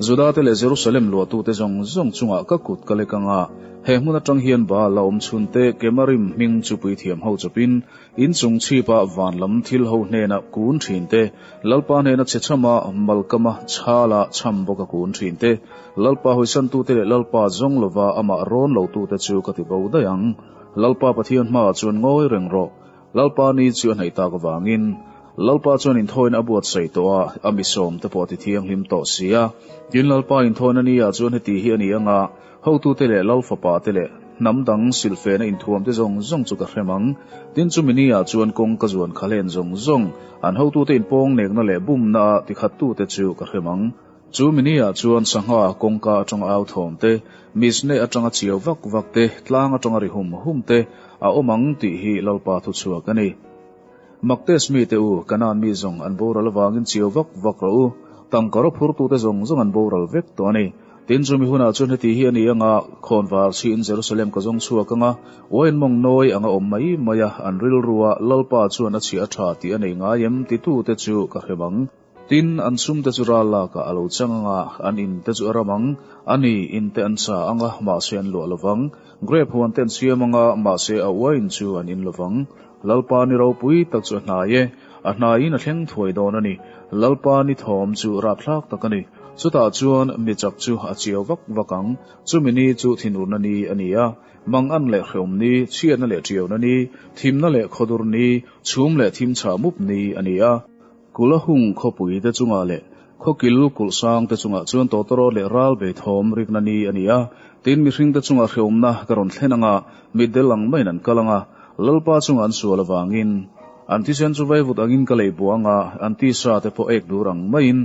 Juda te leh Jerusalem luatu te zawng zawng chungah ka kut ka lek ang a, he hmun atang hian Baal a awm chhun te Kemarim hming chu puithiam ho chawpin, inchung chhipa van lam thil ho hnena kun thin te, Lalpa hnena chhechham a, Malkama chhal a chham bawk a kun thin te, Lalpa hawisantu te leh Lalpa zawng lova amah rawn lo tu te chu ka ti bo daih ang. Lalpa Pathian hmaah chuan ngawi reng rawh. Lalpa ni chu a hnaih tak avangin Lalpa chuan inthawina a buatsaih tawh a, a misawm te pawh a tithiang hlim tawh si a. Tin, Lalpa inthawina nia chuan heti hi a ni anga, Hotute leh Lal fapa te leh hnam dang silfena inthuam te zawng zawng chu ka hrem ang. Tin, chumi nia chuan kawng ka zuan kha len zawng zawng, an hotute inpawng nekna leh bumna a tikhat tute chu ka hrem ang. Chu mini ah chuan sangha kawngka atanga au thawm te, misne atanga chiau vak vak te, tlang atanga ri hum hum te a awm ang tih hi Lalpa thu chhuak a ni. Mak test mi te u, kanan mi zawng an boral avangin chiau vak vak rawh u, tangka rawh phur tu te zawng zawng an boral vek tawh a ni. Tin chu mi hunah chuan heti hi a ni anga, Khawnvar chhiin Jerusalem ka zawng chhuak anga wine mawng nawi anga awm mai mai a, an rilru a Lalpa chuan a chhia a tha tih a nei ngai em ti tu te chu ka hrem ang. Tin, an chhungte chu ral lakah a lo chang ang a, an inte chu a ram ang. A ni, inte an sa ang a, mahse an luah lo vang. Grape ho an ten siam ang a, mahse a uaiin chu an in lo vang. Lalpa ni ropui tak chu a hnai e. A hnaiin a thleng thuai dawn a ni. Lalpa ni thawm chu rapthlak tak a ni. Chutah chuan mi chak chu a chiau vak vak ang. Chumi ni chu thinurna ni a ni a, mang an leh hreawm ni, chhiatna leh tiauna ni, thimna leh khaw dur ni, chhum leh thim chhah mup ni a ni a. Kula hung khawpui te chungah leh khawkil kulh sang te chungah chuan tawtawrawt leh ral bei thawm rikna ni a ni a, tin mihring te chunga hreawmna ka rawn thlen anga mitdel ang maiin an kal anga Lalpa chunga an sual avangin an thisen chu vaivut angin ka lei buang anga an tisa te pawh ek dur ang maiin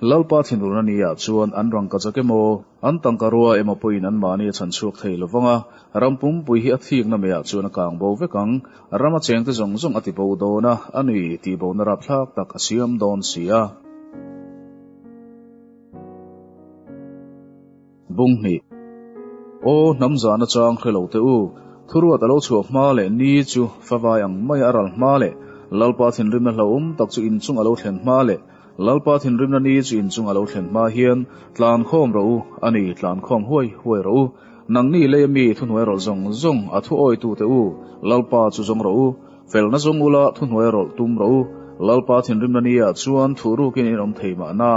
Lalpa thinruna ni ah chuan an rangkazak emaw an tangka rua emaw pawhin an mahni a chhan chhuak thei lovanga ram pumpui hi a thikna meh ah chuan a kang bo vek ang. Rama chengte zawng zawng a tibo dawn a, a nui tihbona rap thlak tak a siam dawn si a. Bung hnih. Aw, hnam zan achang hre lo teh u. Thuruat a lo chhuah hma leh ni chu fa vai ang maia a ral hma leh Lalpa thinrimna hlauhawm tak chu inchung a lo thlen hma leh, Lalpa thinrimna ni chi inchung a lo thlen hma hian tlan khawm rawh u, a ni tlan khawm huai huai rawh u, nang ni lei ami thuhnuai rawlh zawng zawng a thu awi tu teh u, Lalpa chu zawng rawh u, felna zawng ula thuhnuai rawlh tum rawh u, Lalpa thinrimna ni ah chuan thu ruk in in awm thei mah na.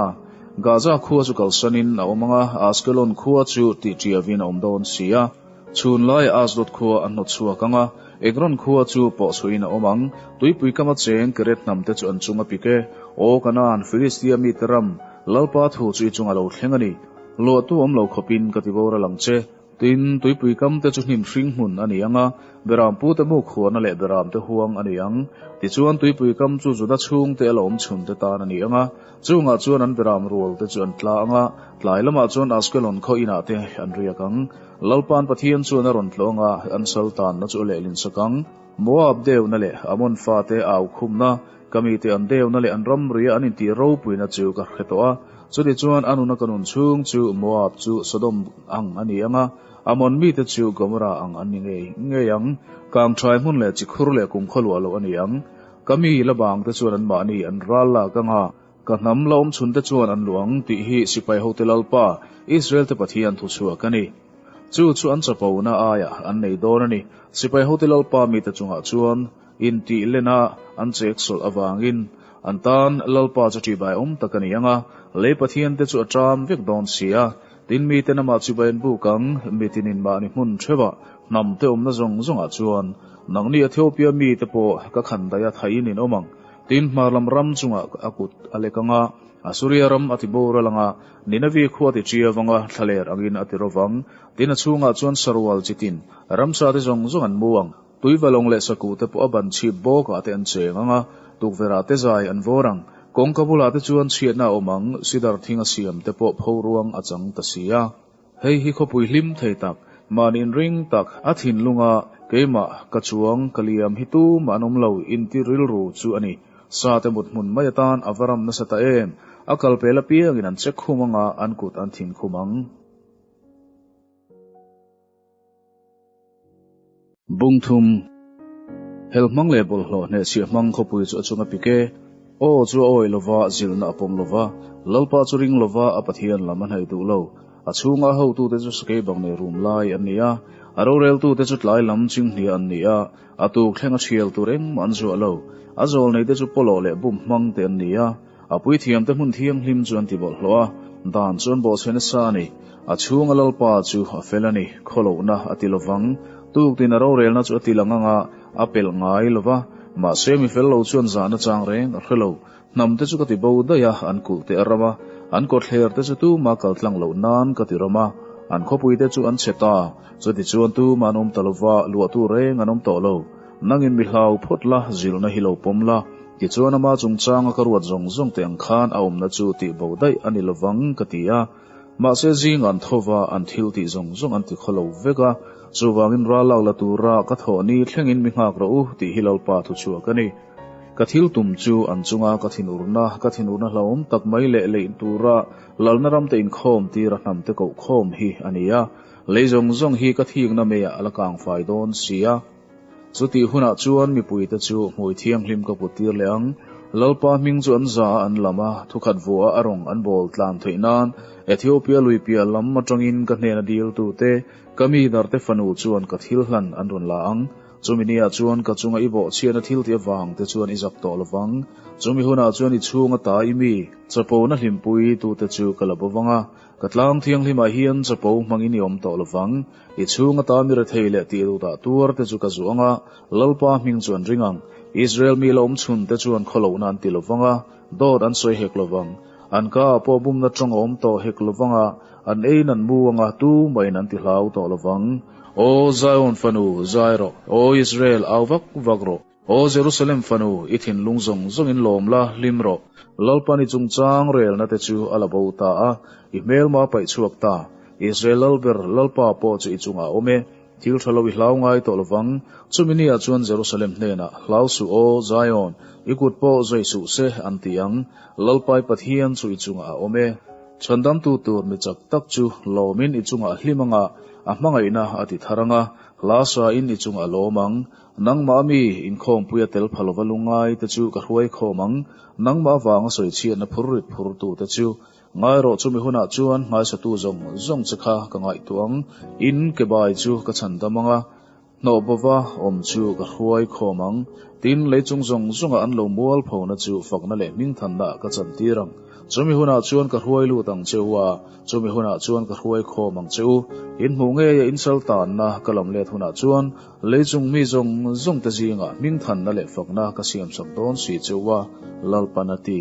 Gaza khua chu kalsan in a awm anga Askelon khua chu tihtiavin a awm dawn si a. Chhun lai Asdod khua an hnawt chhuak ang a, Ekron khua chu pawh suiin a awm ang. Tuipui kama cheng Keret hnamte chu an chung a pik e. Aw Kanaan, Filistia mite ram, Lalpa thu chu i chunga lo thleng a ni. Luahtu awm lo khawpin ka ti bawr a lang che. Tin, tuipui kamte chu hnim hring hmun a ni ang a, Beram pute muk huana leh Beramte huang a ni ang. Tichuan, tuipui kam chu Juda chhungte a lo awm chhunte tan a ni ang a. Chungah chuan an beram rual te chu an tla ang a, tlai lamah chuan Askelon khaw inah te an riak ang. Lalpan Pathian chuan a rawn tlawh ang a, an sal tanna chu a lehlinsak ang. Moab deuna leh Ammon fate a aukhumna, ka mite an deuna leh an ramria an intih ropuina chu ka hre tawh a, chutichuan a nuna ka nun chhung chu Moab chu Sodom ang a ni ang a, Ammon mite chu Gomorrah ang an ni ngei ngei ang. Kangṭhai hmun leh chikhur leh kum khaw luah loh a ni ang. Ka mi la vang te chuan an mahni an ral lak ang a, ka hnam la awmchhun te chuan an luh ang tih hi sipai hote Lalpa, Israel te Pathian thuchhuak a ni. Chu chu an chapo na aia an nei dawn a ni. Sipai hote Lalpa mite chungah chuan intih lena an chek sawlh avangin an tan Lalpa chu tibai awm tak a ni ang a, lei Pathian te chu a ṭam vek dawn sia Tin, mite namah chibai an buk ang, mi tinin mahni hmun theuha hnamte awmna zawng zawngah chuan nangni Ethiopia mite pawh ka khan daih a, thaihin in awm ang. Tin, hmarlam ram chunga a kut a lek ang a, Assuria ram a ti bawr a lang a, Nineveh khua a ti ṭi avang a, thlaler angin a ti rawh vang. Tin, a chhungah chuan sarual chitin ramsate zawng zawng an mu ang. Tuivalawng leh Saku te pawh a ban chhip bawk ah te an cheng ang a, tukverh ah te zai an vawr ang. Kawngka bulah te chuan chhiatna a awm ang, Sidar thing a siam te pawh pho ruang a chang ta si a. Hei hi khawpui hlim thei tak, mahni'n ring tak a thinlung a, keimah ka chuang ka liam hi tumah an awm lo inti rilru chu a ni. Sa te muthmun mai atan a va ram nasa ta em? A kal pel apiangin an che khum ang a, an kut an thin khum ang. Bung thum, Hel hmang leh bawlhhlawh hnehchhiah hmang khawpui chu a chung a pik e. Aw chu a awih lova, zilna a pawm lova. Lalpa chu ring lova, a Pathian lam a hnaih duh lo. A chhunga a hotute chu sakei bang leh rum lai an ni a. A roreltute chu tlai lam ching hniah an ni a, a tuk thlenga thial tur engmah an zuah lo. A zawlneite chu pawlawh leh bum hmang te an ni a. A puithiamte hmun thianghlim chu an ti bawlh hlawh a, dan chu an bawhchhe nasa a ni. A chhunga Lalpa chu a fel a ni, khaw lohna a ti lovang, tuk tin a rorelna chu a ti lang anga a pelh ngai lova. Mahse, mi fel lo chuan zahna chang reng a hre lo. Hnam te chu ka ti bo daih a, an kulh teh ram a, an kawtthler te chu tuma kal tlang loh nan ka ti ram a, an khawpui te chu an chhe ta, chutichuan tuma an awm ta lova, luahtu reng an awm tawh lo. Nangin mi hlau phawt la, zilna hi lo pawm la. Tichuan ama chungchanga ka ruat zawng zawng teh ang khan a awmna chu tih boh daih a ni lovang ka ti a. Mahse zing an tho va, an thil tih zawng zawng an ti khaw lo vek a. Chuvangin ral lak la tura ka thawh ni thlengin mi nghak rawh u tih hi Lalpa thuchhuah ka ni. Ka thil tum chu an chunga ka thinurna, ka thinurna hlauhawm tak mai leh leih tura Lalna ramte inkhawm tir a hnamte koh khawm hi a ni a. Lei zawng zawng hi ka thikna meiah a la kang fai dawn sia. Chutih hunah chuan mipuite chu hmui thianghlim ka kut tir leh ang. Lalpa hming chu an za a an lam a, thukhat vua a rawn an bawl tlan theih nan Ethiopia lui piah lam atangin ka hnena dil tu te, ka mi dar te fanu chuan ka thil hlan an rawn la ang. Chumi ni ah chuan ka chunga i bawh chhiahna thil tih avang te chuan i zak tawh lo vang. Chumi hunah chuan i chhung ata i mi chapo na hlimpui tu te chu ka la bo vang a, Ka tlang thianghlimah hian chapo hmang i ni awm tawh lovang, i chhung ata mira thei leh tih duhdah tuar te chu ka zuang a, Lalpa hming chu an ring ang. Israel mi la awmchhun te chuan khaw lohna an ti lovang a, dawt an sawi hek lovang. An ka ah pawh bumna tawng a awm tawh hek lovang a, an eiin an mu ang a, tu mahin an tihlau tawh lovang. Aw Zion fanu, zai rawh! Aw Israel, au vak vak rawh! Aw Jerusalem fanu, i thinlung zawng zawngin lawm la, hlim rawh. Lalpa ni chungchang relna te chu a la bo ta a, i hmelma paih chhuak ta. Israel lal ber Lalpa pawh chu i chungah awm e, thil tha lo i hlau ngai tawh lo vang. Chumi ni ah chuan Jerusalem hnenah, Hlau suh aw, Zion, i kut pawh zawih suh se, an ti ang. Lalpai Pathian chu i chungah a awm e. Chhandamtu tur ni chak tak chu lawmin i chungah hlim anga, a hmangaihna a ti thar anga, hla sain i chungah lawm ang. Nangmah ami inkhawmpui a tel pha lova lu ngai te chu ka hruai khawm ang, nangmah avanga sawi chhiatna phur rit phur tu te chu ngai rawh chumi hunah chuan hmaisatu zawng zawng che kha ka ngaihtuah ang, in ke bai chu ka chhan dam anga hnawh bova awm chu ka hruai khawm ang, tin lei chung zawng zawngah an lo mual pho na chu fakna leh hming than na ka chan tir ang, chumi hunah chuan ka hruai lut ang che u a, chumi hunah chuan ka hruai khawm ang che u, in hmuh ngei a in sal tan na ka lam let hunah chuan Lei chung mi zawng zawng te zingah hming thanna leh fakna ka siam chak dawn si cheu a, Lalpan a ti.